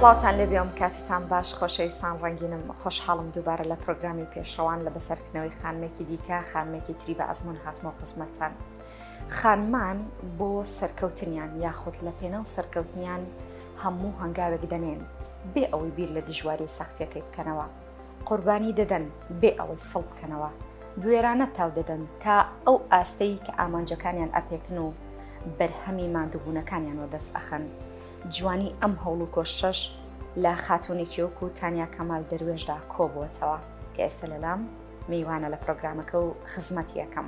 سڵاوان لێ بێم کاتتان باش خۆشەویستان ڕەنگینم خۆشحاڵم دووبارە لە پرۆگرامی پێشەوان لە بەسەرکردنەوەی خانمێکی دیکە خانمێکی تری بە ئەزمون هاتمەوە خزمەتتان. خانمان بۆ سەرکەوتنیان یاخود لە پێناو سەرکەوتنیان هەموو هەنگاوێک دەنێن بێ ئەوەی بیر لە دژواری و سەختیەکەی بکەنەوە قوربانی دەدەن بێ ئەوەی سڵ بکەنەوە بوێرانە تاو دەدەن تا ئەو ئاستەی کە ئامانجەکانیان ئەپێکن و بەرهەمی مادووبوونەکانیان وە دەست ئەخەن جوانی ئەم هەوڵ و کۆشش لە خاتونێکی وەکو تانیا کەمال دەروێشدا کۆبووەتەوە کە ئێستا لەلام میوانە لە پرۆگرامەکە و خزمەت یەکەم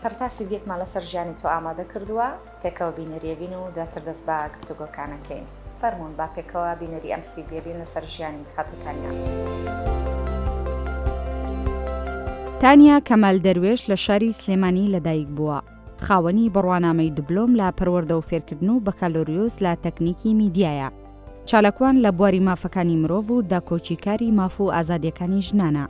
سەرتاسەری بیەکمان لەسەر ژیانی تۆ ئامادە کردووە پێکەوە بینەریە بین و دواتر دەست بە گفتوگۆکانەکەین فەرمونون با پێکەوە بینەری ئەم سی بێبین لەسەر ژیانی خاتوتانیا. تانیا کەمال دەروێش لە شاری سلێمانی لەدایک بووە خاوەنی بڕوانامەی دبلۆم لە پەروەەردە و فێرکردن و بەکالۆریۆز لە تەکنیکی میدیایە چالاکوان لە بواری مافەکانی مرۆڤ و داکۆکیکاری ماف و ئازادیەکانی ژنانە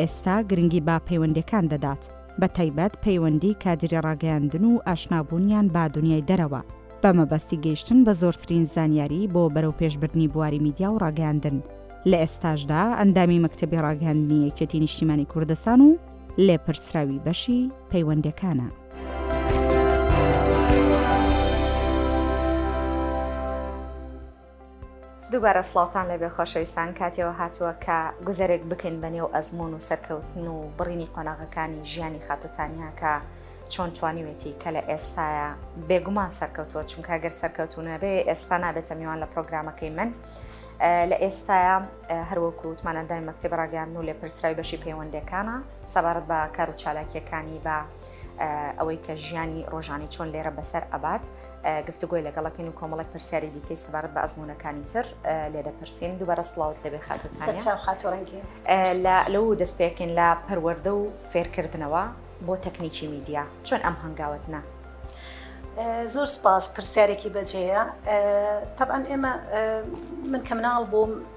ئێستا گرنگی بە پەیوەندیەکان دەدات، بە تایبەت پەیوەندی کادیری ڕاگەیاندن و ئاشنابوونیان بە دونیای دەرەوە، بە مەبەستی گەیشتن بە زۆرترین زانیاری بۆ بەرەوپێشبردنی بواری میدیا و ڕاگەیاندن، لە ئێستاشدا ئەندامی مەکتەبی ڕاگەیاندنی یەکێتی نیشتیمانی کوردستان و لێپرسراوی بەشی پەیوەندیەکانە. دووبارە سڵاوتان لەبێ خۆشەویستان کاتێەوە هاتووە کە گوزەرێک بکەین بە نێو ئەزمون و سەرکەوتن و بڕینی قۆناغەکانی ژیانی خاتوتانیاکە چۆن توانیوێتی کە لە ئێستاە بێگومان سەرکەوتووە چونکە گەر سەرکەوتونە بێ ئێستا نابێتە میوان لە پرۆگرامەکەی من. لە ئێستاە هەروەکو وتمانەدای مەکتب ڕاگەیان و لێ پرسراوی بەشی پەیوەندەکانە سەبارەت بە کار و چالاکیەکانی بە ئەوەی کە ژیانی ڕۆژانی چۆن لێرە بەسەر ئەبات گفتوگۆی لەگەڵەکەین و کۆمەڵێک پرسیاری دیکەی سەبارەت بە ئەزمونونەکانی تر لێ دەپرسین دووبارە سلااوت لەبێ خاتەتانخاتۆڕنگی لەو دەست پێکەین لە پەروەەردە و فێرکردنەوە بۆ تەکنیکی میدیا چۆن ئەم هەنگاوت نا؟ زۆر سپاس پرسیارێکی بەجێە تەبان ئێمە من کە مناڵ بووم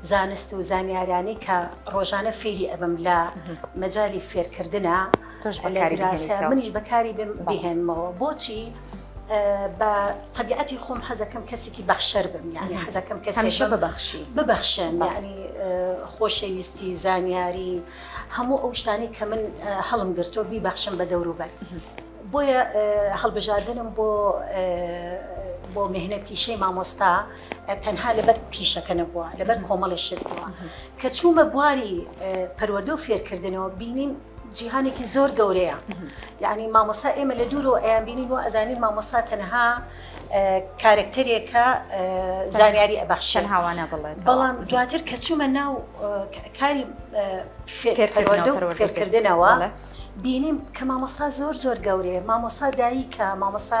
زانست و زانیارانی کە ڕۆژانە فێری ئەبم لە مەجای فێرکردە منیش بەکاری بهێنمەوە بۆچی بە طبیعەتی خۆم حەزەکەم کەسێکی بەخشەر بم یانی حەزەکەم کەسیشە ببخشی ببخشن یعنی خۆشەویستی زانیاری هەموو ئەو شتانی کە من هەڵم گرتۆ بیبەخشم بە دەوروبەر بۆیە هەڵبژاردنم بۆ بۆ مهنە پیشەی مامۆستا تەنها لەبەر پیشەکە نەبووە لەبەر کۆمەڵی شت بووە کە چوومە بواری پەروەردە و فێرکردنەوە بینین جیهانێکی زۆر گەورەیە یعنی مامۆسا ئێمە لە دوور و ئەیان بینین و ئەزانین مامۆسا تەنها کارکتەرێکە زانیاری ئەبەخشن هاوانە بڵێت بەڵام دواتر کە چوومە ناو کاری فێرکردنەوە بینیم کە مامۆسا زۆر زۆر گەورەیە مامۆسا دایکە مامۆسا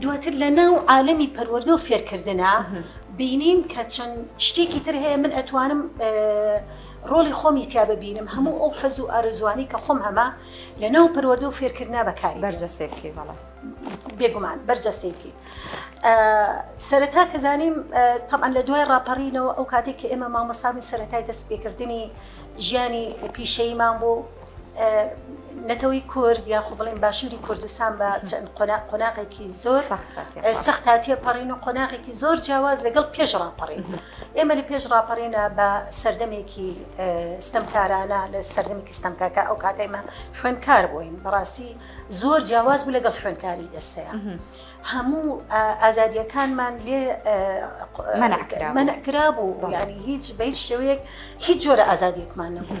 دواتر لە ناو عالەمی پەروەردە و فێرکردنا بینیم کە چەند شتێکی تر هەیە من ئەتوانم ڕۆڵی خۆمی تیا ببینم هەموو ئەو حەز و ئارزوانی کە خۆم هەمە لە ناو پەروەردە و فێرکردنا بەکاری بەرجەسێ بکەی بەڵە بێگومان بەرجەستی بکەیت سەرەتا کە زانیم تەمان لە دوای ڕاپەڕینەوە ئەو کاتێک کە ئێمە مامۆسامی سەرەتای دەست پێکردنی ژیانی پیشەیمان بوو نەتەوەی کورد یاخۆ بڵێن باشووری کوردستان بە چەند قۆناغێکی زۆر سەختا تێپەڕین و قۆناغێکی زۆر جیاواز لەگەڵ پێش ڕاپەڕین ئێمە لە پێش ڕاپەڕینە بە سەردەمێکی ستەمکارانە لە سەردەمێکی ستەمکاکە ئەو کاتێمە خوێنکار بووین بەڕاستی زۆر جیاواز بوو لەگەڵ خوێنکاری ئێستەیە. هەموو ئازادیەکانمان لێ منەکرا بوو ینی هیچ بە هیچ شێوەیەک هیچ جۆرە ئازادیەکمان نەبوو.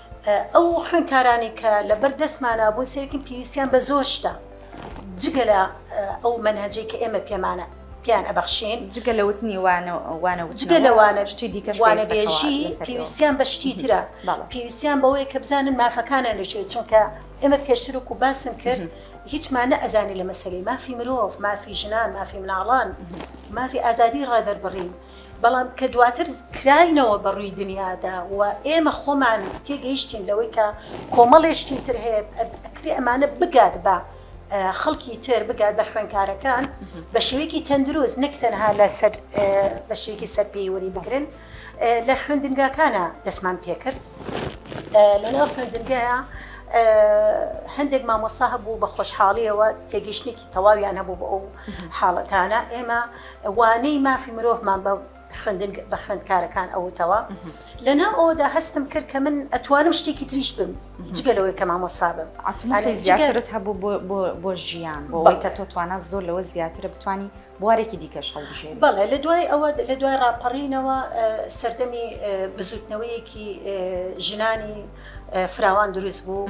ئەو خوێندکارانەی کە لەبەر دەستمانا بوون سەیرکن پێویستیان بە زۆر شتە جگە لە ئەو مەنهەجەی کە ئێمە پێمانە پێیان ئەبەخشین جگە لە وتنی وانە وانە جگە لە وانە شتی دیکە وانەبێژی پێویستیان بە شتی ترە پێویستیان بەوەیە کە بزانن مافەکانە لەشێت چونکە ئێمە پێشترک و باسم کرد هیچمانە ئەزانی لە مەسەری مافی مرۆڤ مافی ژنان مافی مناڵان مافی ئازادی ڕادەربڕین بەڵام کە دواتر کراینەوە بە ڕووی دنیادا و ئێمە خۆمان تێگەیشتین لەوەی کە کۆمەڵێ شتی تر هەیە ئەکرێ ئەمانە بگات بە خەڵکی تر بگات بە خوێنکارەکان بە شێوەیەکی تەندروست نەک تەنها لە سەر بە شێکی سەر پێیوەری بگرن لە خوێندنگاکانە دەستمان پێکرد لەناو خوێندنگەیە هەندێک مامۆسا هەبوو بە خۆشحاڵیەوە تێگەشتێکی تەواویان هەبوو بە ئەو حاڵەتانە ئێمە وانەی مافی مرۆڤمان بە خوێندن بە خوێندکارەکان ئەوتەوە لەناو ئەودا هەستم کرد کە من ئەتوانم شتێکی تریش بم جگەلەوەی کە مامۆسا بم زیاترت هەبوو بۆ ژیان بۆەوەی کە تۆ توانە زۆر لەوە زیاترە بتانی بوارێکی دیکەش هەڵبژێ بەڵێ لە دوای ئەوە لە دوای ڕاپەڕینەوە سەردەمی بزوتنەوەیەکی ژنانی فراوان دروست بوو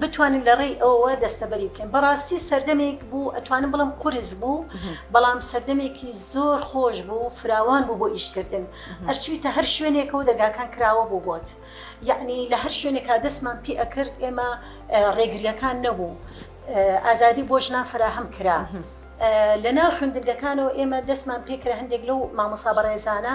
بتوانین لە ڕێی ئەوەوە دەستەبەری بکەین بەڕاستی سەردەمێک بوو ئەتوانم بڵم قرس بوو بەڵام سەردەمێکی زۆر خۆش بوو فراوان بوو بۆ ئیشکردن ئەرچوویتە هەر شوێنێکەوە دەگاکان کراوە بوو بۆت یعنی لە هەر شوێنێکا دەستمان پێ ئەکرد ئێمە ڕێگریەکان نەبوو ئازادی بۆ ژنان فراهەم کرا. لە ناو خوێندنگەکانەوە ئێمە دەستمان پێکرە هەندێک لەو مامۆسا بەڕێزانە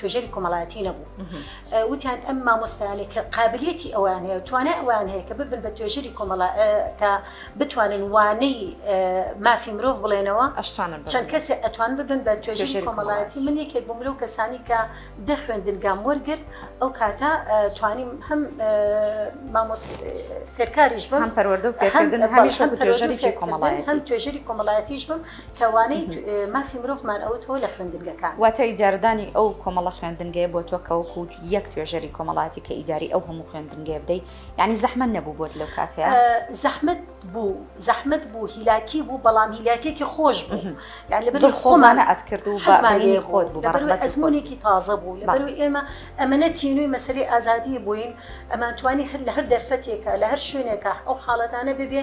توێژەری کۆمەڵایەتی نەبوو وتیان ئەم مامۆستایانی کە قابلیەتی ئەوان هەیە توانای ئەوان هەیە کە ببن بە توێژەری کۆمەڵا کە بتوانن وانەی مافی مرۆڤ بڵێنەوە ئەشتوانن چەند کەسێ ئەتوان ببن بە توێژەری کۆمەڵایەتی من یەکێک بووم لەو کەسانی کە دەخوێندنگام وەرگرت ئەو کاتە توانیم هەم فێرکاریش بم هەم پەروەردە فێکردن هەمیش توێژەری کۆمەڵایەتی هەم توێژەری کۆمەڵایەتیش بم کەوانەی مافی مرۆڤمان ئەوتەوە لە خوێندنگەکان. واتە ئیجارەدانی ئەو کۆمەڵە خوێندنگەیە بۆ تۆ کەوەکو یەک توێژەری کۆمەڵایەتی کە ئیداری ئەو هەموو خوێندنگەیە بدەی یعنی زەحمەت نەبوو بۆت لەو کاتەیە زەحمەت بوو زەحمەت بوو هیلاکی بوو بەڵام هیلاکێکی خۆش بوو یان لەبەر خۆمانە ئەتکرد و بەزمانی خۆت بوو بەڕێ ئەزمونێکی تازە بوو لەبەر ئێمە ئەمەە تینوی مەسەری ئازادی بووین ئەمانتوانی هەر لە هەر دەرفەتێکە لە هەر شوێنێکە ئەو حاڵەتانە ببێ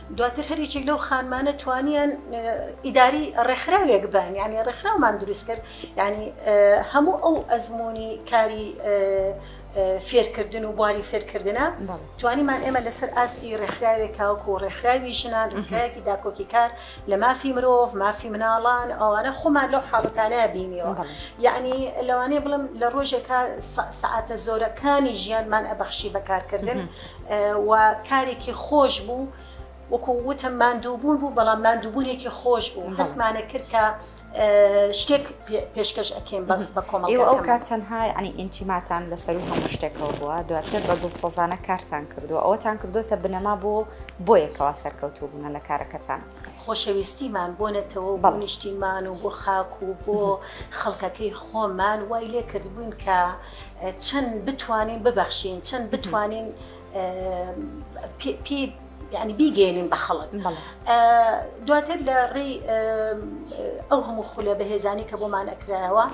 دواتر هەر یەکێک لەو خانمانە توانیان ئیداری ڕێکخراوێک بن یعنی ڕێکخراومان دروست کرد یعنی هەموو ئەو ئەزمموی کاری فێرکردن و بواری فێرکردنە توانیمان ئێمە لەسەر ئاستی ڕێکخراوێک کاوک و ڕێکخراوی ژنان ڕێکخراوێکی داکۆکی کار لە مافی مرۆڤ مافی مناڵان ئەوانە خۆمان لەو حاڵەتانە بینیەوە یعنی لەوانەیە بڵم لە ڕۆژێکە سعاتە زۆرەکانی ژیانمان ئەبەخشی بەکارکردن و کارێکی خۆش بوو وەکو وتم ماندووبوون بوو بەڵام ماندووبوونێکی خۆش بوو هەستمانە کرد کە شتێک پێشکەش ئەکەم بە کۆمەڵ ئەو کات تەنها ینی ئینتیماتان لەسەر و هەموو شتێکەوە بووە دواتر بە دڵ سۆزانە کارتان کردو ئەوەتان کردوتە بنەما بۆ بۆ یەکەوە سەرکەوتو بوونە لە کارەکەتان خۆشەویستیمان بۆ نەتەوە بە نیشتیمان و بۆ خاک و بۆ خەڵکەکەی خۆمان وای لێ کردبوون کە چەند بتوانین ببەخشین چەند بتوانین پی یعنی بیگەێنین بە خەڵک دواتر لە ڕێی ئەو هەموو خولە بەهێزانی کە بۆمان ئەکرایەوە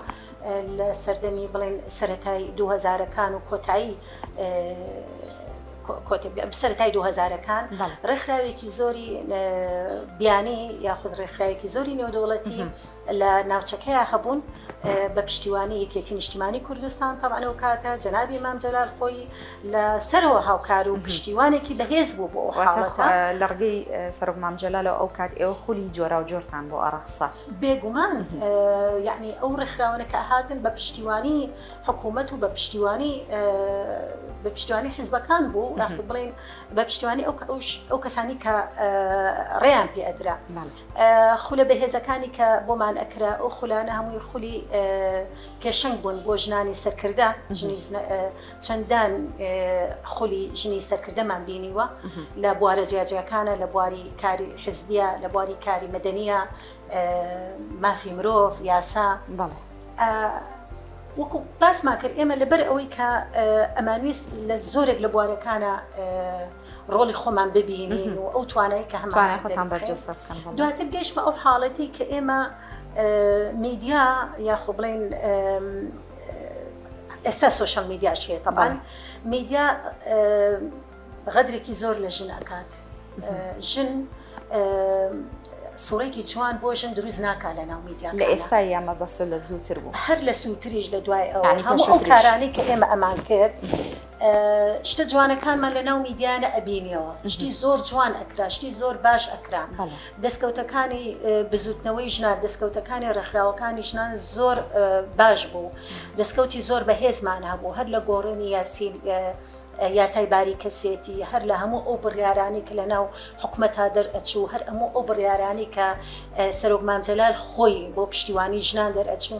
لە سەردەمی بڵێن سەتای دوهزارەکان و کۆتایی سەرای دوهزارەکان ڕێکخراوێکی زۆری بیانی یاخود ڕێکخراوێکی زۆری نێودەوڵەتی لە ناوچەکەیا هەبوون بە پشتیوانی یەکێتی نیشتیمانی کوردستان تەبعەن ئەو کاتە جەنابی مام جەلال خۆی لە سەرەوە هاوکار و پشتیوانێکی بەهێز بوو بۆ لەڕگەی سەرۆک مام جەلالەوە ئەو کات ئێوە خولی جۆرا و جۆرتان بۆ ئەڕەخسا بێگومان یعنی ئەو ڕێکخراوەنە کە هاتن بە پشتیوانی حکوومەت و بە پشتیوانی بە پشتیوانی حیزبەکان بوو بڵین بە پشتیوانی ئەو کەسانی کە ڕێیان پێ ئەدرا خولە بەهێزەکانی کە بۆمان ئەکرا ئەو خولانە هەمووی خولی پێشەنگ بوون بۆ ژنانی سەرکردە چەندان خولی ژنی سەرکردەمان بینیوە لە بوارە جیاجیەکانە لە بواری کاری حزبیە لە بواری کاری مەدەنیە مافی مرۆڤ یاسا بەڵێ. وەکو باسمان کرد ئێمە لەبەر ئەوەی کە ئەمانویست لە زۆرێک لە بوارەکانە ڕۆڵی خۆمان ببینین و ئەو توانای کە هەمانخۆتان بەرجەسە بکەن دواتر گەش بە ئەو حاڵەتی کە ئێمە میدیا یاخۆ بڵین ئێستا سوۆشل میدیاش هەیە تەبان میدیا غەدرێکی زۆر لە ژن ئەکات ژن سوڕێکی جوان بۆ ژن دروست ناکا لە ناو میدیا لە ئێستا یامە بەسە لە زووتر بوو هەر لە سووتریش لە دوای ئەو هەموو ئەو کارانەی کە ئێمە ئەمان کرد شتە جوانەکانمان لە ناو میدیانە ئەبینیەوە شتی زۆر جوان ئەکرا شتی زۆر باش ئەکرا دەستکەوتەکانی بزوتنەوەی ژنان دەستکەوتەکانی ڕێکخراوەکانی ژنان زۆر باش بوو دەستکەوتی زۆر بەهێزمان هەبوو هەر لە گۆڕێنی یاسیل یاسای باری کەسێتی هەر لە هەموو ئەو بڕیارانی کە لە ناو حکومەتا دەرئەچوو هەر ئەموو ئەو بڕیارانی کە سەرۆک مامجلال خۆی بۆ پشتیوانی ژنان دەرئەچوو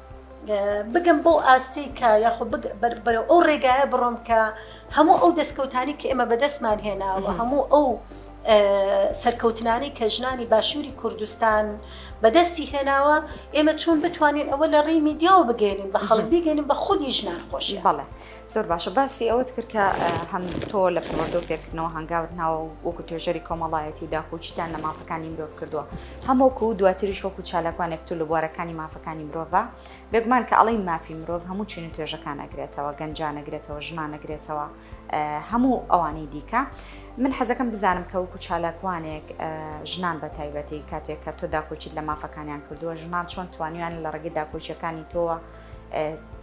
بگەم بەو ئاستەی کە یاخۆ بەرەو ئەو ڕێگایە بڕۆم کە هەموو ئەو دەستکەوتانی کە ئێمە بەدەستمان هێناوە هەموو ئەو سەرکەوتنانی کە ژنانی باشووری کوردستان بەدەستی هێناوە ئێمە چون بتوانین ئەوە لە ڕێی میدیاوە بگەێنین بە خەڵک بگەێنین بە خودی ژنان خۆشی بەڵێ. زۆر باشە باسی ئەوەت کرد کە هەم تۆ لە پەروەردە و فێرکردنەوە هەنگاوت ناوە و وەکو توێژەری کۆمەڵایەتی و داکۆچیتان لە مافەکانی مرۆڤ کردووە هەمووکو و دواتریش وەکو چالاکوانێک تو لە بوارەکانی مافەکانی مرۆڤە بێگومان کە ئەڵی مافی مرۆڤ هەموو چین و توێژەکان ئەگرێتەوە گەنجان نەگرێتەوە ژنان نەگرێتەوە هەموو ئەوانەی دیکە من حەزەکەم بزانم کە وەکو چالاکوانێک ژنان بە تایبەتی کاتێک کە تۆ داکۆچیت لە مافەکانیان کردووە ژنان چۆن توانیان لە ڕگەی داکۆچیەکانی تۆوە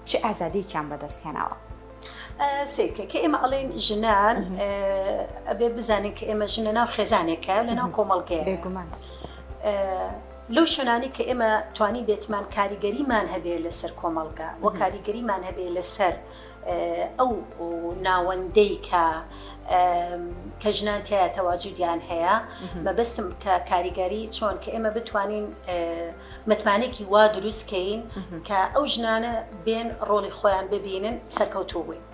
چ ئازادیەکیان بەدەست هێناوە. سیکە کە ئێمە ئەڵێن ژنان ئەبێ بزانین کە ئێمە ژنە ناو خێزانێکە لە ناو کۆمەڵگەیە بێگومان. لەو شوێنانی کە ئێمە توانی بێتمان کاریگەریمان هەبێ لەسەر کۆمەڵگا و کاریگەریمان هەبێ لەسەر ئەو ناوەندەی کە کە ژنان تایە تەواجودیان هەیە مەبستم کە کاریگەری چۆن کە ئێمە بتوانین متمانەێکی وا دروست کەین کە ئەو ژنانە بێن ڕۆڵی خۆیان ببینن سەرکەوتوو بووین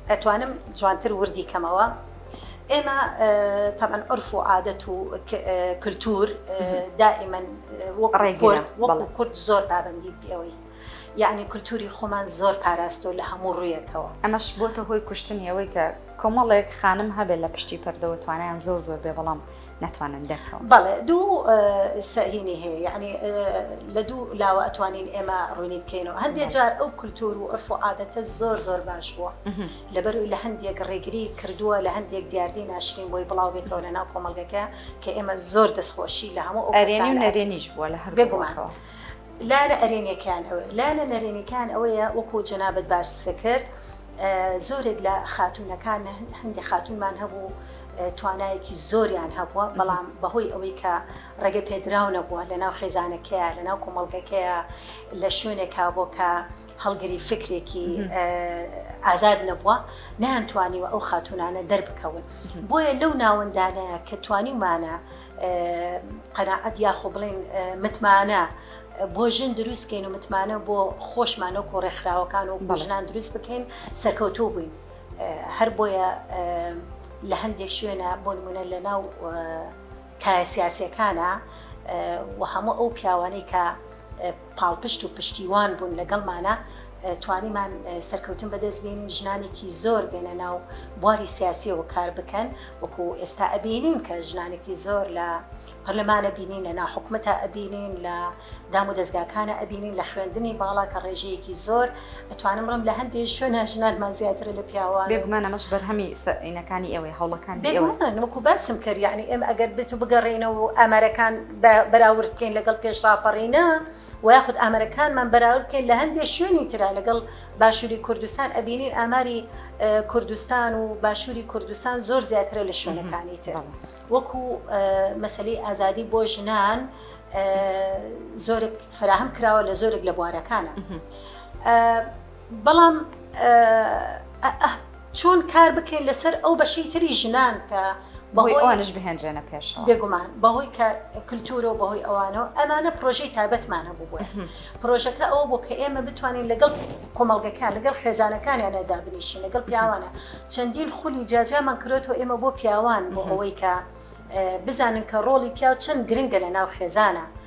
ئەتوانم جوانتر وردی کەمەوە ئێمە تەمەەن ئەرف و عادەت و کللتور دائیمەن وەکو کورد زۆر پابندی پێوەی یعنی کللتوری خۆمان زۆر پاراستۆ لە هەموو ڕویەکەوە ئەمەش بۆتە هۆی کوشتنیەوەی کە کۆمەڵێک خانم هەبێت لە پشتی پەردەوە توانیان زۆر زۆر بێ بەڵام ناتوانن دەرکەون بەڵێ دوو سەهینی هەیە یعنی لە دوو لاوە ئەتوانین ئێمە ڕوونی بکەین و هەندێک جار ئەو کولتور و ئەرف و عادەتە زۆر زۆر باش بووە لەبەروی لە هەندێک ڕێگری کردووە لە هەندێک دیاردی ناشرین بۆی بڵاو بێتەوە لە ناو کۆمەلگەکە کە ئێمە زۆر دەستخۆشی لە هەموو ئەرێنی نەرێنیش بووە لە هەر بێگومانەوە. لارە ئەرێنیەکان ئەوە لانە نەرێنیکان ئەوەیە وەکو جەنابەت باش سەکرد زۆرێک لە خاتوونەکان هەندێک خاتوونمان هەبوو توانایەکی زۆریان هەبووە بەڵام بەهۆی ئەوەی کە ڕێگە پێدراو نەبووە لە ناو خێزانەکەیە لە ناو کۆمەڵگەکەیە لە شوێنێکا بۆ کە هەڵگری فکرێکی ئازاد نەبووە نەیان توانیوە ئەو خاتونانە دەربکەون بۆیە لەو ناوەندانەیە کە توانیمانە قەناعەت یاخۆ بڵێن متمانە بۆ ژن دروستکەین و متمانە بۆ خۆشمانە و ڕێکخراوەکان و بەژنان دروست بکەین سەرکەوتوو بووین هەر بۆیە لە هەندێک شوێنە بۆ نمونە لە ناو کایە سیاسەکانە و هەموو ئەو پیاوانەی کە پاڵپشت و پشتیوان بوون لەگەڵمانە توانیمان سەرکەوتن بەدەست بێنین ژنانێکی زۆر بێنە ناو بواری سیاسیەوە کار بکەن وەکو ئێستا ئەبینین کە ژنانێکی زۆر لە پەرلەمانە بینین لە ناحکومەتە ئەبینین لە دام و دەستگاکانە ئەبینین لە خوێندنی باڵا کە ڕێژەیەکی زۆر ئەتوانم ڕم لە هەندێک شوێنە ژنانمان زیاترە لە پیاوە بێگومانەمەش بەرهەمی سەینەکانی ئێوەی هەوڵەکانی ئێوە وەکو باسم کرد یعنی ئێمە ئەگەر بێت و بگەڕێنەوە ئەمەرەکان بە بەراورد بکەین لەگەڵ پێش ڕاپەڕینە و یاخود ئامەرەکانمان بەراورد بکەین لە هەندێک شوێنی تررا لەگەڵ باشووری کوردستان ئەبینین ئاماری کوردستان و باشووری کوردستان زۆر زیاترە لە شوێنەکانی تر وەکو مەسلەی ئازادی بۆ ژنان زۆرێک فراهم کراوە لە زۆرێک لە بوارەکانە. بەڵام چۆن کار بکەین لەسەر ئەو بەشی تری ژنان کە بەهۆی ئەوانش بهێنرێنە پێشەوە بێگومان بەهۆی کە کللتورە و بەهۆی ئەوانەوە ئەمانە پرۆژەی تابەتمان هەبوو بۆ پرۆژەکە ئەوە بۆ کە ئێمە بتوانین لەگەڵ کۆمەڵگەکان لەگەڵ خێزانەکانیان نەدابنیشین لەگەڵ پیاوانە چەندین خولی جاجامان کرێتەوە ئێمە بۆ پیاوان بۆ ئەوەی کە بزانن کە ڕۆڵی پیاو چەند گرنگە لە ناو خێزانە.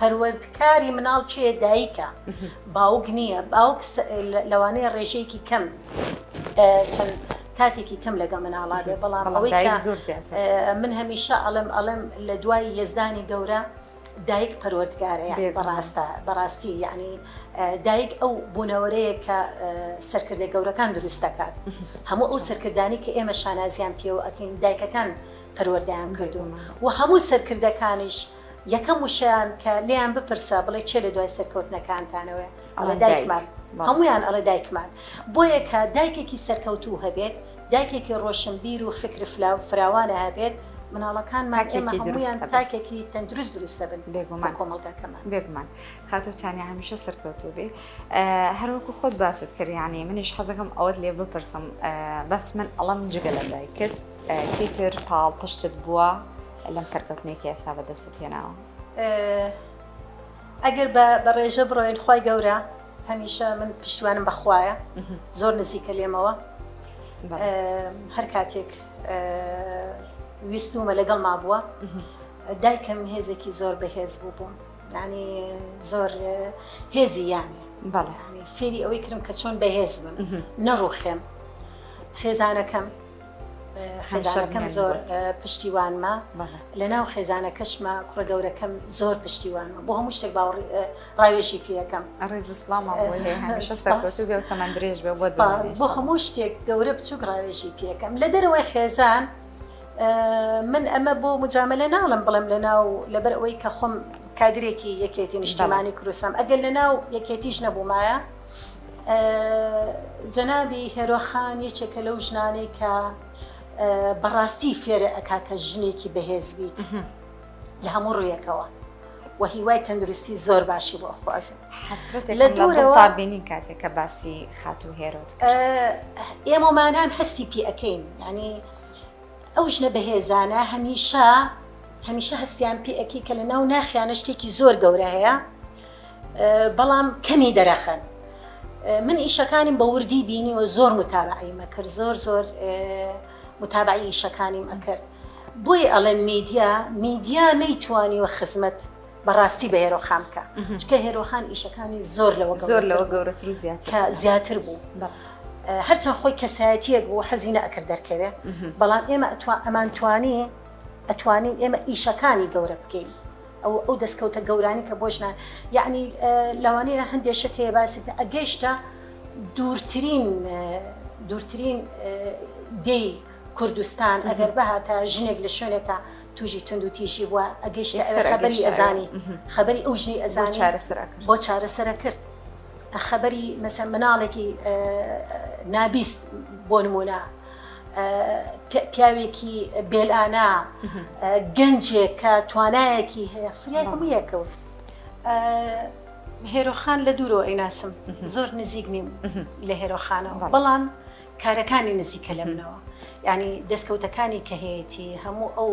پەروەردکاری مناڵ کێ دایکە باوک نییە باوک لەوانەیە ڕێژەیەکی کەم چەند کاتێکی کەم لەگە مناڵادێ بەڵام ئەوەی زۆر من هەمیشە ئەڵم ئەڵم لە دوای یزدانی گەورە دایک پەروەردگارە بەڕاستە بەڕاستی یعنی دایک ئەو بوونەوەرەیە کە سەرکردە گەورەکان دروست دەکات هەموو ئەو سەرکردانی کە ئێمە شانازیان پێوە ئەکەین دایکەکان پەروەردەیان کردوون و هەموو سەرکردەکانیش یەکەم وشەیان کە لێیان بپرسە بڵێ چێ لە دوای سەرکەوتنەکانتانەوەێ ئەڵێ دایکمان هەمویان ئەڵێ دایکمان بۆ یەکە دایکێکی سەرکەوتوو هەبێت دایکێکی ڕۆشنبیر و فکر فراوانە هەبێت مناڵەکان ماکێمەکی درویان تاکێکی تەندروست دروستە بن بێگومان کۆمەڵگاکەمان بێگومان خاتوتانیا هەمیشە سەرکەوتو بێ هەروەکو خۆت باست کردیانی منیش حەزەکەم ئەوەت لێ بپرسم بەس من ئەڵم جگە لە دایکت کەیتر پاڵ پشتت بووە لەم سەرکەوتنەی کە ئێستا بەدەستت هێناوە ئەگەر بە بەڕێژە بڕۆین خی گەورە هەمیشە من پشتوانم بەخوایە زۆر نزیکە لێمەوە هەر کاتێک ویستومە لەگەڵ ما بووە دایکم هێزێکی زۆر بەهێز بوو بووم ینی زۆر هێزی یانێ بەڵێ فێری ئەوەی کردم کە چۆن بەهێز بم نەڕوخێم خێزانەکەم خێزانەکەم زۆر پشتیوانمە لە ناو خێزانەکەشمە کوڕە گەورەکەم زۆر پشتیوانمە بۆ هەموو شتێک باوەڕ ڕاوێژی پێەکەم ڕێز سلام تەمەند درێژ بێ بۆ هەموو شتێک گەورە بچووک ڕاوێژی پێەکەم لە دەرەوەی خێزان من ئەمە بۆ مجاملە ناڵم بڵم لە ناو لەبەر ئەوەی کە خۆم کادرێکی یەکێتی نیشتمانی کروسم ئەگەر لە ناو یەکێتیش نەبوومایە جەنابی هێرۆ خان یەکێکە لەو ژنانەی کە بەڕاستی فێرە ئەکا کە ژنێکی بەهێز بیت لە هەموو ڕوویەکەوە و هیوای تەندروستی زۆر باشی بۆ خوازم لە دوورەوە بینین کاتێک کە باسی خاتو هێرۆت ئێمەمانان هەستی پێ ئەەکەین ینی ئەو ژنە بەهێزانە هەمیشە هەمیشە هەستیان پێ ئەکی کە لە ناو ناخیانە شتێکی زۆر گەورە هەیە بەڵام کەمی دەرەخەن من ئیشەکانیم بە وردی بینیوە زۆر متابعی مەکرد زۆر زۆر متابعی ئیشەکانیم ئەکرد بۆی ئەڵێن میدیا میدیا نەیتوانیوە خزمەت بەڕاستی بە هێرۆخان بکە چکە هێرۆخان ئیشەکانی زۆر لەوە زۆر لەوە گەورەتر زیات کە زیاتر بوو هەرچەند خۆی کەسایەتیەک بۆ حەزینە ئەکرد دەرکەوێ بەڵام ئێمە ئەتوان ئەمان توانی ئەتوانین ئێمە ئیشەکانی گەورە بکەین ئەو ئەو دەستکەوتە گەورانی کە بۆ ژنان یعنی لەوانەیە هەندێک شت هەیە باسی بکە ئەگەیشتە دوورترین دوورترین دێی کوردستان ئەگەر بهاتە ژنێک لە شوێنێکە توژی تونند و تیژی بووە ئەگەشت خەبەری ئەزانی خەبەری ئەو ژنی ئەزان چارەسەر بۆ چارەسەرە کرد خەبەری مەسە مناڵێکی نابیست بۆ نمونە پیاوێکی بێلانە گەنجێک کە توانایەکی هەیە فریای هەموو یەکەوت هێرۆخان لە دوورەوە ئەیناسم زۆر نزیک نیم لە هێرۆخانەوە بەڵام کارەکانی نزیکە لە منەوە ینی دەستکەوتەکانی کە هەیەی هەموو ئەو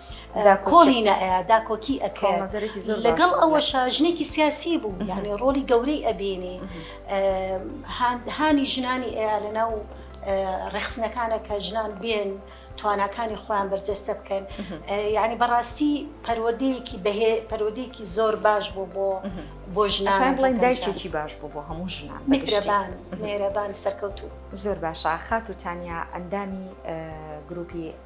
کۆڵینە ئەیا داکۆکی ئەکەێ لەگەڵ ئەوەشە ژنێکی سیاسی بوو یانێ ڕۆلی گەورەی ئەبینی هاندهانی ژنانی ئەیا لە ناو ڕێخسنەکانە کە ژنان بێن تواناکانی خۆیان بەرجەستە بکەن یعنی بەڕاستی پەروەدەیەکی بەهێ پەرۆدێکی زۆر باش بوو بۆ بۆ ژنان بڵێن دایکێکی باش بوو بۆ هەموو ژنان میرەبان مێرەبان سەرکەوتو زۆر باشە خات و تانیا ئەندامی گروپی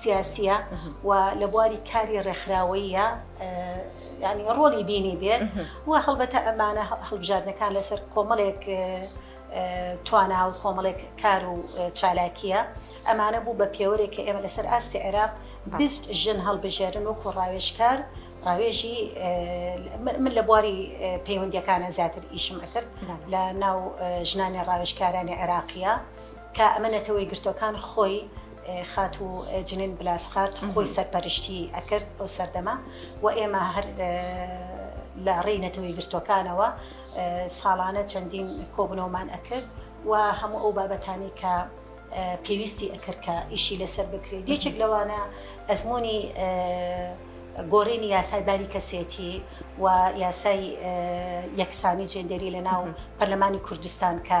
سیاسیە و لە بواری کاری ڕێکخراوەیە ینی ڕۆلی بینی بێت و هەڵبەتە ئەمانە هەڵبژاردنەکان لەسەر کۆمەڵێک توانا و کۆمەڵێک کار و چالاکیە ئەمانە بوو بە پێوەرێک کە ئێمە لەسەر ئاستی عێراق بیست ژن هەڵبژێرن و کۆڕاوێشکار ڕاوێژی من لە بواری پەیوەندیەکانە زیاتر ئیشم ئەکرد لە ناو ژنانی ڕاوێشکارانی عێراقیە کە ئەمە نەتەوەیەکگرتووەکان خۆی خاتوو جنین بلاسخات خۆی سەرپەرشتی ئەکرد ئەو سەردەمە و ئێمە هەر لە ڕێی نەتەوەی گرتوەکانەوە ساڵانە چەندین کۆبنەوەمان ئەکرد و هەموو ئەو بابەتانی کە پێویستی ئەکرد کە ئیشی لەسەر بکرێت یەکێک لەوانە ئەزمموی گۆڕینی یاسای باری کەسێتی و یاسای یەکسانی جێندێری لە ناو پەرلەمانی کوردستان کە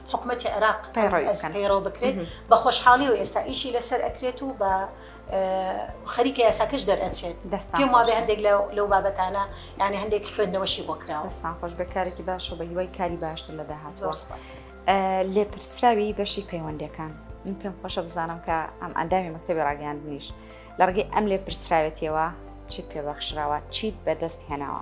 حکومەتی عێراق پەیڕەو بکرێت بە خۆشحاڵی و ئێستا ئیشی لەسەر ئەکرێت و بە خەریکە یاساکەش دەرئەچێت دەستان وا بێ هەندێک لەو بابەتانە یعنی هەندێک خوێندنەوەشی بۆ کراوە دەستان خۆش بەکارێکی باشە بە هیوای کاری باشتر لە داهات زۆر سپاس لێپرسراوی بەشی پەیوەندەکان من پێم خۆشە بزانم کە ئەم ئەندامی مەکتتەبی ڕاگەاندنیش لە ڕگەی ئەم لێپرسراوێتیەوە چیت پێبەخشراوە چیت بەدەست هێناوە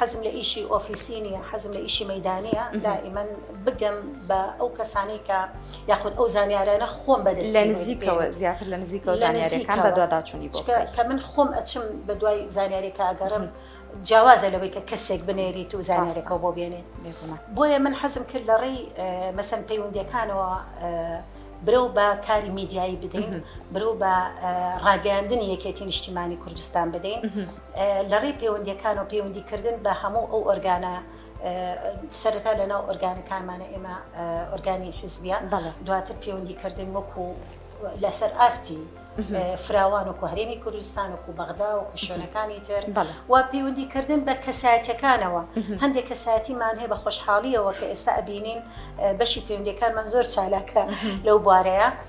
حەزم لە ئیشی ئۆفیسی نییە، حەزم لە ئیشی مەیدانییە، دائیمەن بگەم بە ئەو کەسانەی کە یاخود ئەو زانیارانە خۆم بەدەست لە نزیکەوە زیاتر لە نزیکەوە زانیارەکان بە دوواداچوونی بۆ کە من خۆم ئەچم بە دوای زانیارێکە ئەگەڕم جیاوازە لەوەی کە کەسێک بنێریت و زانیارێکەوە بۆ بێنێت بۆیە من حەزم کرد لە ڕێی مەسەن پەیوەندەکانەوە برەو بە کاری میدیایی بدەین برەو بە ڕاگەاندنی یەکێتی نیشتیمانی کوردستان بدەین لە ڕێی پەیوەندیەکانەوە پەیوەندی کردن بە هەموو ئەو ئۆرگانە سەرەتا لە ناو ئۆرگانەکانمانە ئێمە ئۆرگانی حزبیان دواتر پەیوەندی کردن وەکو لەسەر ئاستی فراوان و کوهرێمی کوردستان و کوبەغدا و کوشۆنەکانی تر و پەیوەندی کردن بە کەسایەتەکانەوە هەندێک کەسایەتیمان هەیە بە خۆشحاڵیەوە کە ئێستا ئەبینین بەشی پەیوەندەکانمان زۆر چالاکە لەو بوارەیە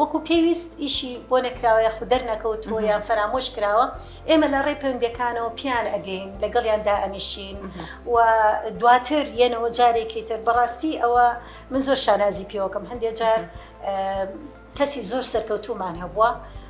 وەکو پێویست ئیشی بۆ نەکراوە یاخو دەرنەکەوتووە یان فەرامۆش کراوە ئێمە لە ڕێی پەیوەندەکانەوە پیان ئەگەین لەگەڵیان دائەنیشین و دواتر یەنەوە جارێکی تر بەڕاستی ئەوە من زۆر شانازی پێوەکەم هەندێک جار کەسی زۆر سەرکەوتومان هەبووە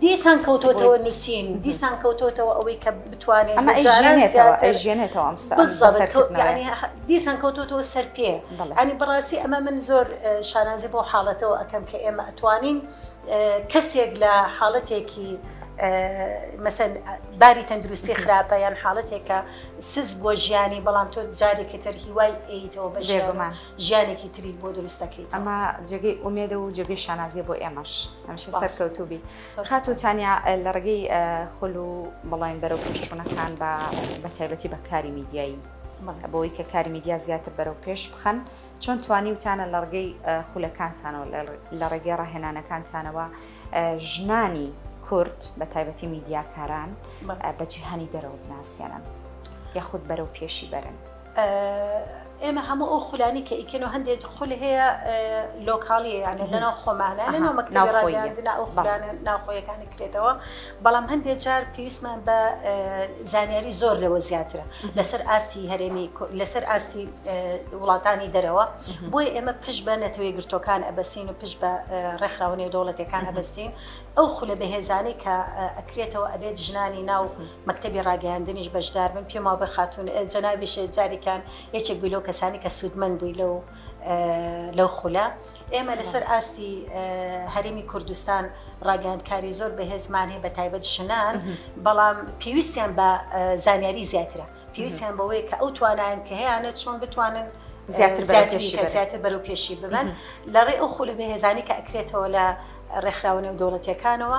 دیسان کەوتۆتەوە نووسین دیسان کەوتۆتەوە ئەوەی کە بتوانێت ئەمە جاران زیاتر ئەژێنێتەوە ئەم سا بزە بزە کەوت بزەکردنەوەیە. یانی ه- دیسان کەوتۆتەوە سەر پێ بەڵێ. ینی بەڕاستی ئەمە من زۆر اه، شانازی بەو حاڵەتەوە ئەکەم کە ئێمە ئەتوانین اه، کەسێک لە حاڵەتێکی اه، مەسەن اه، باری تەندروستی خراپە یان حاڵەتێک کە سست بووە ژیانی بەڵام تۆ جارێکی تر هیوای ئەیتەوە بە ژیان و بێگومان. ژیانێکی تری بۆ دروست دەکەیت ئەمە جێگەی ئومێدە و جێگەی شانازیە بۆ ئێمەش هەمیشە سەرکەوتوبی خات و تانیا لە ڕێگەی خول و بەڵێن بەرەو پێشچوونەکان بە بە تایبەتی بە کاری میدیایی بۆی کە کاری میدیا زیاتر بەرەو پێش بخەن چۆن توانی وتانە لە ڕگەی خولەکانتانەوە لە ڕێگەی ڕاهێنانەکانتانەوە ژنانی کورد بە تایبەتی میدیاکاران بە جیهانی دەرەوە بناسیێنن یاخود بەرەو پێشی بەرن ئێمە هەموو ئەو خولانی کە ئیکەن و هەندێک خول هەیە لۆکاڵیە یانە لەناو خۆمانە لەناو مەکتەبی ڕاگەیاندنا ئەو خولان ناوخۆیەکانی کرێتەوە بەڵام هەندێک جار پێویستمان بە زانیاری زۆر لەوە زیاترە لەسەر ئاستی هەرێمی لەسەر ئاستی وڵاتانی دەرەوە بۆی ئێمە پشت بە نەتەوەی گرتۆکان ئەبەسین و پشت بە ڕێکخراوەنێ دەوڵەتەکان ئەبستین ئەو خولە بەهێزانەی کە ئەکرێتەوە ئەبێت ژنانی ناو مەکتەبی ڕاگەیاندنیش بەشدار بن پێم وابێ خاتون جەنابیش جاریکان یەکێک بووی لەو کەسانی کە سوودمەند بووی لەو لەو خولە ئێمە لەسەر ئاستی هەرمی کوردستان ڕاگەاندکاری زۆر بەهێزمان هەیە بە تایبەت ژنان بەڵام پێویستیان بە زانیاری زیاترە پێویستیان بەوەیە کە ئەو توانایان کە هەیەە چۆن بتوانن زیاتر زیاتر بەرەو پێشی ببن لە ڕێ ئەو خولە بەهێزانی کە ئەکرێتەوە لە ڕێکخراوە نێو دەوڵەتەکانەوە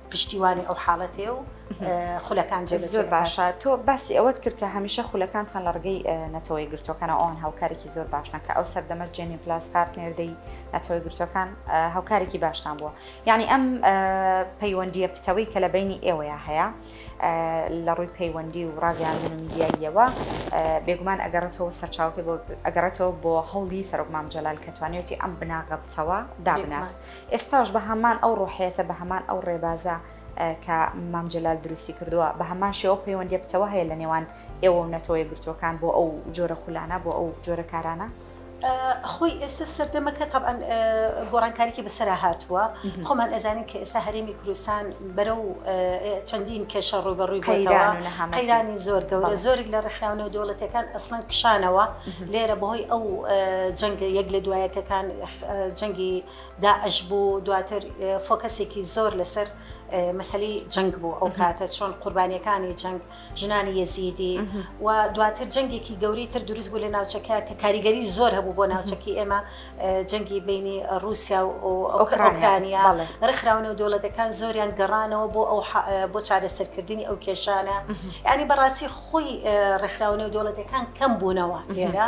پشتیوانی ئەو حاڵەتێ و خولەکان جێ زۆر باشە تۆ باسی ئەوەت کرد کە هەمیشە خولەکانتان لە ڕگەی نەتەوەی گرتوەکان ئەوان هاوکارێکی زۆر باش نەکە ئەو سەردەمە جێنی پلاس کارت نێردەی نەتەوەی گرتوەکان هاوکارێکی باشتان بووە یعنی ئەم پەیوەندیە پتەوەی کە لە بینی ئێوەیە هەیە لە ڕووی پەیوەندی و ڕاگەیاندن میدیاییەوە بێگومان ئەگەڕێتەوە سەرچاوکە بۆ ئەگەڕێتەوە بۆ هەوڵی سەرۆکمام جەلال کە توانێتی ئەم بناغە بتەوە دابنات ئێستاش بە هەمان ئەو ڕۆحیەتە، بە هەمان ئەو ڕێبازە کە مام جەلال دروستی کردووە، بە هەمان شێوە ئەو پەیوەندییە پتەوە هەیە لە نێوان ئێوە و نەتەوە یەکگرتووەکان بۆ ئەو جۆرە خولانە، بۆ ئەو جۆرە کارانە؟ خۆی ئێستا سەردەمەکە تەبعەن گۆڕانکاریی بەسەرا هاتووە، خۆمان ئەزانین کە ئێستا هەرێمی کوردستان بەرەو چەندین کێشە ڕووبەڕووی بووەتەوە، قەیرانی زۆر گەورە، زۆرێک لە ڕێکخراوە نێودەوڵەتییەکان ئەسڵەن کشانەوە لێرە بەهۆی ئەو جەنگە یەک لە دوایەکەکان. جەنگی داعش بوو دواتر فۆکەسێکی زۆر لەسەر مەسلی جەنگ بوو ئەو کاتە چۆن قوربانیەکانی جەنگ ژنانی یەزیدی و دواتر جەنگێکی گەوری تر دروست بوو لە ناوچەکە کە کاریگەری زۆر هەبوو بۆ ناوچەکی ئێمە جەنگی بینی رووسیا و ئۆکرانیا ڕخراونە و دەوڵەتەکان زۆریان گەڕانەوە بۆ ئەو بۆ چارەسەرکردنی ئەو کێشانە ینی بەڕاستی خۆی ڕخراونە و دەوڵەتەکان کەم بوونەوە لێرە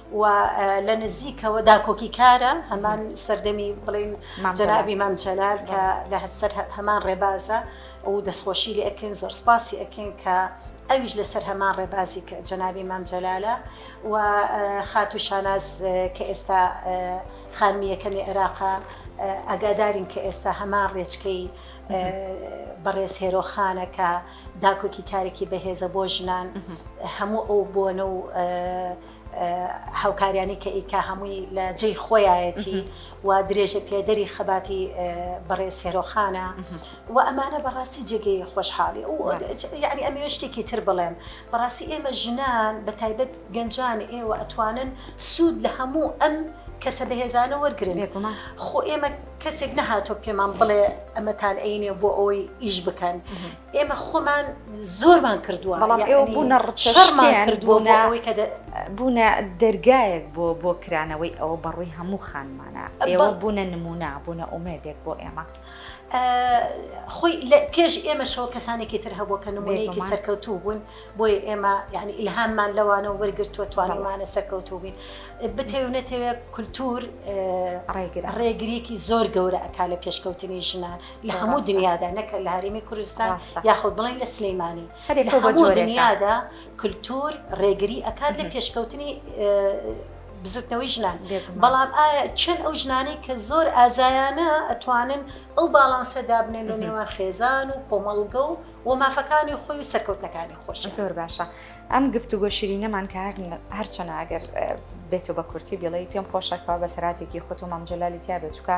و لە نزیکەوە داکۆکی کارە هەمان سەردەمی بڵین جەنابی مام جەلال کە لە هەسەر هەمان ڕێبازە و دەستخۆشی لە ئەکەین زۆر سپاسی ئەکەین کە ئەویش لەسەر هەمان ڕێبازی کە جەنابی مام جەلالە و خاتو شاناز کە ئێستا خانمیەکەمی عێراقا ئەگادارین کە ئێستا هەمان ڕێچکەی بەڕێز هێرۆخانەکە داکۆکی کارێکی بەهێزە بۆ ژنان هەموو ئەو بۆنە و هاوکاریانی کە ئیکا هەمووی لە جێی خۆیایەتی و درێژە پێدەری خەباتی بەڕێ سێرۆخانە و ئەمانە بەڕاستی جێگەی خۆشحاڵی و یعنی ئەمێ شتێکی تر بڵێم بەڕاستی ئێمە ژنان بە تایبەت گەنجان ئێوە ئەتوانن سوود لە هەموو ئەم کەسە بەهێزانە وەرگن خۆ ئێمە کەسێک نەهاتۆ پێمان بڵێ ئەمەتان عینێ بۆ ئەوەی ئیش بکەن ئێمە خۆمان زۆرمان کردووە بەڵام ئێوە بوونە ڕچەڕمان کردووە بۆ ئەوەی کە بوونە دەرگایەک بۆ بۆ کرانەوەی ئەوە بەڕووی هەموو خانمانە ئێوە بوونە نمونە بوونە ئومێدێک بۆ ئێمە خۆی لە پێش ئێمەشەوە کەسانێکی تر هەبوو کە نمونەیەکی سەرکەوتوو بوون بۆی ئێمە یعنی ئیلهاممان لەوانەوە وەرگرتووە توانمانە سەرکەوتوو بین بتێو نەتەوێت کولتور ڕێگرێکی زۆر گەورە ئەک لە پێشکەوتنی ژنان لە هەموو دنیادا نەکرد لە هەرێمی کوردستان یاخود بڵێن لە سلەیمانی دنیادا کللتور ڕێگری ئەکات لە پێشکەوتنی بزوتنەوەی ژنان بەڵام چەند ئەو ژنانەی کە زۆر ئازایانە ئەتوانن ئەو باڵانسە دابنێن لە نێوان خێزان و کۆمەڵگە و و مافەکانی خۆی و سەرکەوتنەکانی خۆش زۆر باشە ئەم گفتوگۆ شیرینەمان کە هەرچەنە ئەگەر بێتەوە بە کورتی بڵێ پێم خۆشەکەەوە بە سەراتێکی خۆتۆ مامجللالی تیا بێت چکە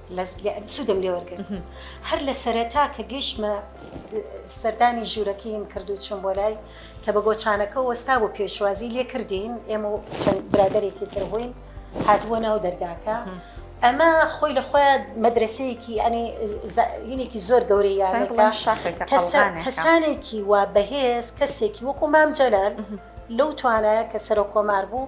سوودم لێ وەرگرت هەر لە سەرەتا کە گەشتمە سەردانی ژوورەکەیم کردو چم بۆ لای کە بە گۆچانەکە وەستا بۆ پێشوازی لێ کردین ئێمە و چەند برادێکی تر بووین هاتبووە ناو دەرگاکە ئەمە خۆی لە خۆیان مەدرسەیەکی ئەنی هینێکی زۆر گەورەی یانەکە کەسانێکی وا بەهێز کەسێکی وەکو مام جەلال لەو توانایە کە سەرۆ کۆمار بوو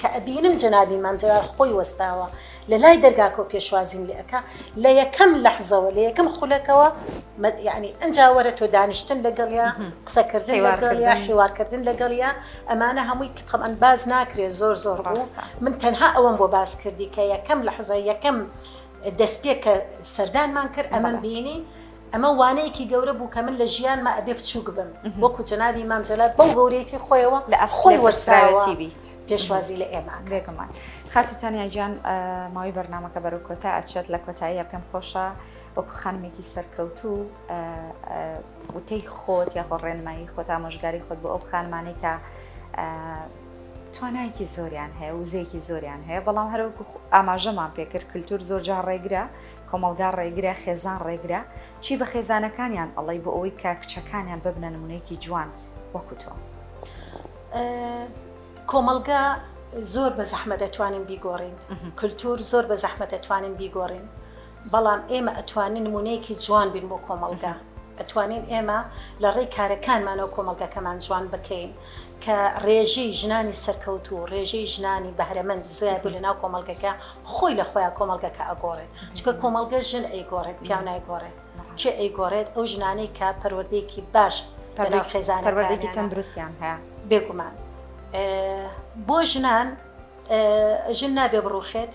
کە ئەبینم جەنابی مام جەلال خۆی وەستاوە لە لای دەرگاکە و پێشوازیم لێ ئەکا، لە یەکەم لەحزەوە، لە یەکەم خولەکەوە یانی ئەنجا وەرە تۆ دانیشتن لەگەڵیا، قسەکردن لەگەڵیا، حیوارکردن لەگەڵیا، ئەمانە هەمووی کە تەبعەن باس ناکرێ زۆر زۆر بوو، من تەنها ئەوەم بۆ باس کردی کە یەکەم لەحزە، یەکەم. دەستپێک کە سەردانمان کرد ئەمەم بینی ئەمە وانەیەکی گەورە بوو کە من لە ژیانمە ئەبێ بچووک بم وەکو جەنابی مام جەلال بەو گەورەیەتی خۆیەوە لە ئەسخۆی وەسراوەتی بیت پێشوازی لە ئێمە بێگومان خاتوتانیا گیان ماوەی بەرنمەکە بەرەو کۆتا ئەچێت لە کۆتاییە پێم خۆشە وەکو خانمێکی سەرکەوت و وتەی خۆت یاخۆ ڕێنمایی خۆت ئامۆژگاری خۆت بۆ ئەو خانمانەی کە توانایەکی زۆریان هەیە وزەیەکی زۆریان هەیە بەڵام هەروەکو ئاماژەمان پێکرد کللتور زۆر جار ڕێگرە کۆمەلگا ڕێگرە خێزان ڕێگرە چی بە خێزانەکانیان ئەڵی بۆ ئەوەی کە کچەکانیان ببنە نمونەیەکی جوان وەکوتۆ کۆمەلگا زۆر بە زەحمە دەتوانین بیگۆڕین کللتور زۆر بە زەحمە دەتوانین بیگۆڕین بەڵام ئێمە ئەتوانین نمونەیەکی جوان بین بۆ کۆمەڵگا ئەتوانین ئێمە لە ڕێی کارەکانمانەوە کۆمەڵگەکەمان جوان بکەین کە ڕێژەی ژنانی سەرکەوت و ڕێژەی ژنانی بەهرەمەند زیاد بوو لە ناو کۆمەڵگەکە خۆی لە خۆیان کۆمەڵگەکە ئەگۆڕێت چکە کۆمەڵگە ژن ئەیگۆڕێت پیاو نایگۆڕێت کێ ئەیگۆڕێت ئەو ژنانەی کە پەروەردەیەکی باش لەناو خێزان پەروەردەیەکی تەندروستیان هەیە بێگومان بۆ ژنان ژن نابێ بڕوخێت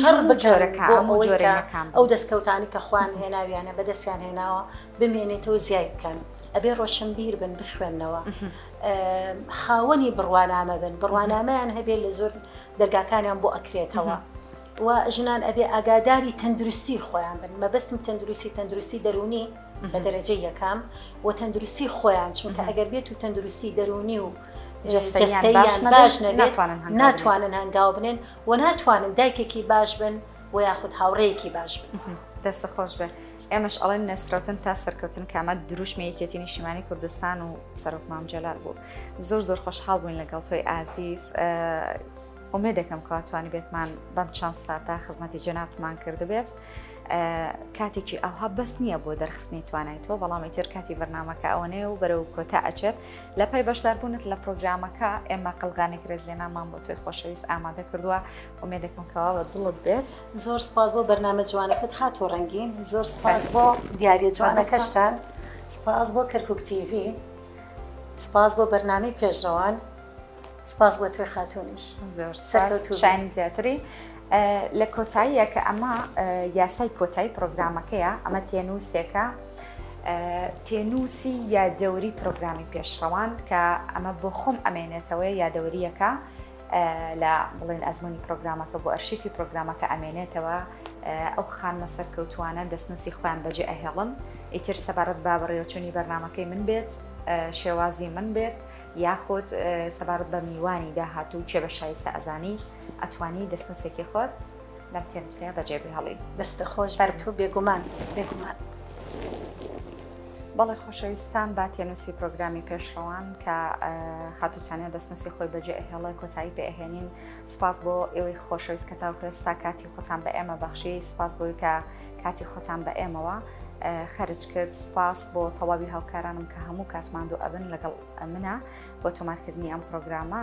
شەڕ بکەن ئەو دەستکەوتانی کە خوان هێناویانە بەدەستیان هێناوە بمێنێتەوە زیای بکەن ئەبێ ڕۆشنبیر بن بخوێندنەوە خاوەنی بڕوانامە بن بڕوانامەیان هەبێت لە زۆر دەرگاکانیان بۆ ئەکرێتەوە. و ژنان ئەبێ ئاگاداری تەندروستی خۆیان بن مەبستم تەندروستی تەندروستی دەرونی بە دەرەجە یەکەم و تەندروستی خۆیان چونکە ئەگەر بێت و تەندروستی دەرونی و جەستەییان باش نەبێت ناتوانن هەنگاو بنێن و ناتوانن دایکێکی باش بن و یاخود هاوڕێیەکی باش بن. دەستە خۆش بێت ئێمەش ئەڵێن نەسرەوتن تا سەرکەوتن کامە دروشمی یەکێتی نیشیمانی کوردستان و سەرۆک مامجلال بوو زۆر زۆر خۆشحاڵ بووین لەگەڵ تۆی ئازیز ئومێ دەکەم کاتوانی بێتمان بەم چەند ساتا خزمەتی جەنابمان کردبێت کاتێکی ئاها بەس نییە بۆ دەرخستنی توانای تۆ بەڵام ئیتر کاتی بەرنمەکە ئەوەنەیە و بەرەو کۆتا ئەچێت لە پای بەشداربوونت لە پرۆگرامەکە ئێمە قەلغانێک رێزلێنامان بۆ تۆی خۆشەویست ئامادە کردووە ومێدەکەمکەوە بە دڵت بێت زۆر سپاس بۆ بەرنامە جوانەکەت خاتۆ ڕەنگین زۆر سپاس بۆ دیارە جوانەکەشتان سپاس بۆ کەرکک تیڤ سپاس بۆ بەرنامی پێشڕەوان سپاس بۆ توێ خاتونیش شانی زیاتری لە کۆتاییە کە ئەمە یاسای کۆتایی پرۆگرامەکەیە ئەمە تێنووسێکە تێنووسی یا دەوری پرۆگرامی پێشڕەوان کە ئەمە بۆ خۆم ئەمێنێتەوەی یادەوەریەکە لە بڵێن ئەزمموی پرۆگرامەکە بۆ ئەرشیفی پرۆگرامەکە ئەمێنێتەوە ئەو خانمە سەرکەوتوانە دەستنووسی خۆیان بەجێ ئەهێڵن ئیتر سەبارەت با بەڕێوەچوونی بەرنمەکەی من بێت شێوازی من بێت یاخود سەبارەت بە میوانی داهاتوو کێ بە شایستە ئەزانی ئەتوانی دەستنووسێکی خۆت لەم تێنووسەیە بەجێ بهێڵی دەستە خۆش بەر تۆ بێگومان بێگومان. بەڵێ خۆشەویستان با تێنووسی پرۆگرامی پێشڕەوان کە خاتوتانە دەستنووسی خۆی بەجێ ئەهێڵە کۆتایی پێهێنین سپاس بۆ ئێوەی خۆشەویست کە تاوکە ستا کاتی خۆتان بە ئێمە بەخشی سپاس بۆی کە کاتی خۆتان بە ئێمەوە خەرج کرد سپاس بۆ تەواوی هاوکارانم کە هەموو کاتماندو ئەبن لەگەڵ منە بۆ تۆمارکردنی ئەم پرۆگرامە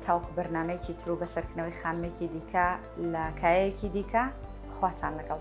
تاوکو بەرنمەیەکی تر و بەسەرکردنەوەی خانمێکی دیکە لە کایەکی دیکە خواتان لەگەڵ.